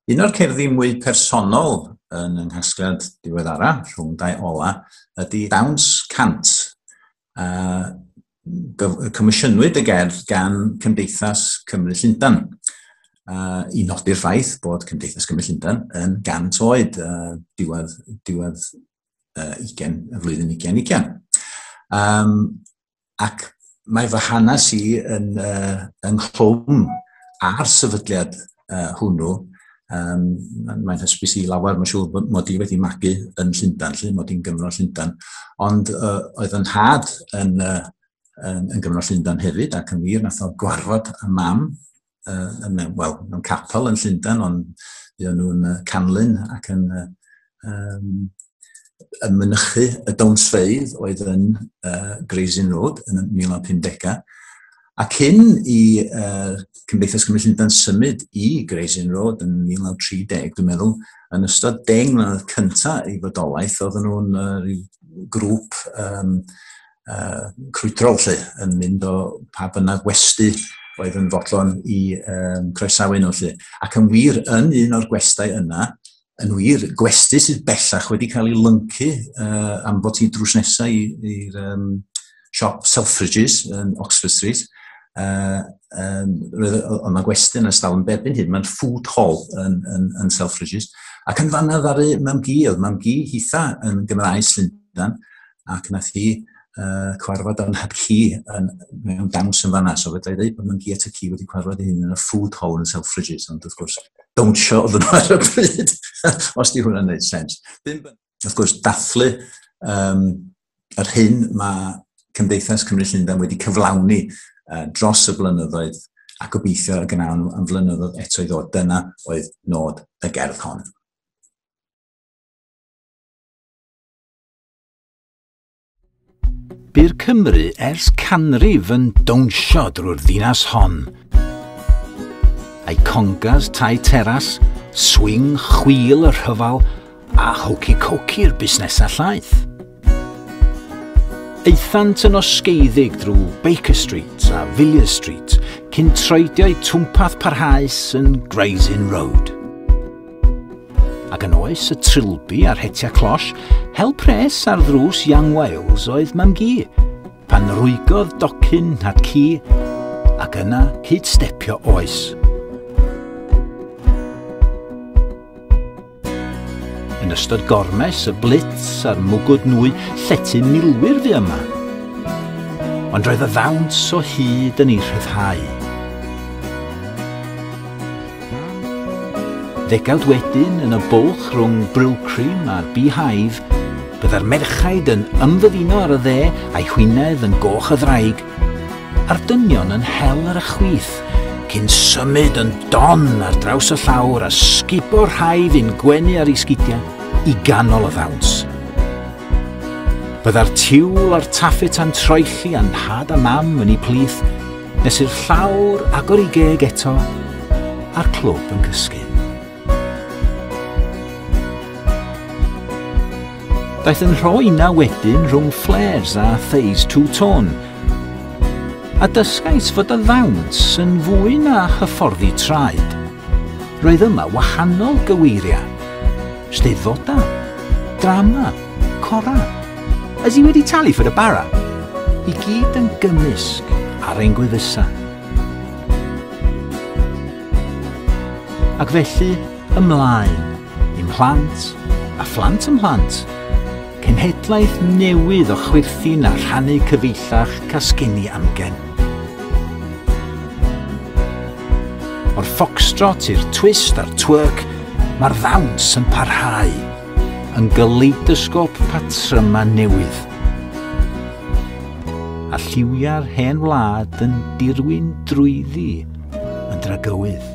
Un o'r cerddi mwy personol yn yng nghasgliad diweddara, rhwng dau ola, ydy Dawns Cant. Uh, comisiynwyd y gerdd gan Cymdeithas Cymru Llundan. Uh, I nodi'r ffaith bod Cymdeithas Cymru Llundan yn gant oed uh, diwedd, diwedd uh, ugen, y flwyddyn ugen ugen. Um, ac mae fy hanes i yn, uh, yn nghlwm ar sefydliad uh, hwnnw. Um, mae'n hysbys i lawer, mae'n siŵr bod mod i wedi magu yn Llundan, lle mod i'n Gymro Llundan. Ond uh, oedd yn had yn, uh, yn, yn Gymro Llundan hefyd, ac yn wir, nath o gwarfod y mam uh, mewn, well, mewn capel yn Llundain, ond fuon nhw'n uh, canlyn ac yn uh, um, yn mynychu y dawnsfeidd oedd yn uh, Grey's Inn Road yn y 1950 A cyn i uh, Cymdeithas Cymru Llundain symud i Grey's Inn Road yn 1930, dwi'n meddwl, yn ystod deng mlynedd cyntaf ei fodolaeth, oedden nhw'n uh, rhyw grŵp um, uh, crwydrol lle, yn mynd o pa bynnag westi oedd yn fodlon i um, croesawu nhw lle. Ac yn wir, yn un o'r gwestau yna, yn wir, gwesti sydd bellach wedi cael ei lyncu uh, am bod hi'n drws nesau i'r um, siop Selfridges yn Oxford Street, uh, um, roedd yna gwesti yn ystafell yn bebyn hyn, mae'n food hall yn, yn, yn Selfridges, ac yn fanna ddaru mam gi, oedd mam gi hitha yn Gymraes Llundan, ac nath hi uh, cwarfod o'n heb ci yn, mewn dawns yn fanna, so fydda i ddweud bod myngi at y ci wedi cwarfod ei hun yn y food hole yn Selfridges, ond wrth gwrs, dawnsio oedd nhw ar y bryd, os di hwnna'n gwneud sens. Wrth gwrs, dathlu um, yr hyn mae Cymdeithas Cymru Llundain wedi cyflawni uh, dros y blynyddoedd a gobeithio y gnawn nhw am flynyddoedd eto i ddod. Dyna oedd nod y gerdd hon. Byr Cymru ers canrif yn dawnsio drwy'r ddinas hon. A'i congas tai teras, swing chwil y rhyfel a hwci coci'r busnesau llaeth. Eithant yn osgeiddig drwy Baker Street a Villiers Street cyn troedio'u twmpath parhaus yn Gray's Inn Road. Ac yn oes y trilby a'r hetia closh, hel pres ar ddrws Young Wales oedd mam gi, pan rwygodd docyn nad ci, ac yna cyd stepio oes. Yn ystod gormes, y blitz a'r mwgwd nwy, llety milwyr fi yma. Ond roedd y ddawns o hyd yn ei rhyddhau. Ddegawd wedyn, yn y bwlch rhwng Brylcrym a'r Beehive, byddai'r merchaid yn ymddyfino ar y dde a'i hwyneb yn goch a ddraig, a'r dynion yn hel ar y chwith, cyn symud yn don ar draws y llawr a sgubo rhai fu'n gwenu ar eu sgidiau i ganol y ddawns. Byddai'r tiwl a'r taffeta'n troelli a'n nhad a mam yn eu plith, Nes i'r llawr agor i geg eto a'r clwb yn cysgu. Daeth yn rhoi na wedyn rhwng flares a phase two-tone, a dysgais fod y ddawns yn fwy na hyfforddi traed. Roedd yma wahanol gyweiriau, steddfodau, drama, Cora, Ydy ti wedi talu for y bara? I gyd yn gymysg ar ein gwefusau. Ac felly, ymlaen, i'm mhlant a phlant ymhlant. Cenhedlaeth newydd o chwyrthin a rhannu cyfeillach casgeni amgen. O'r foxtrot i'r twist a'r twerk, mae'r ddawns yn parhau. yn galeidosgôp patrymau newydd. A lliwiau'r hen wlad yn dirwyn drwyddi yn dragywydd.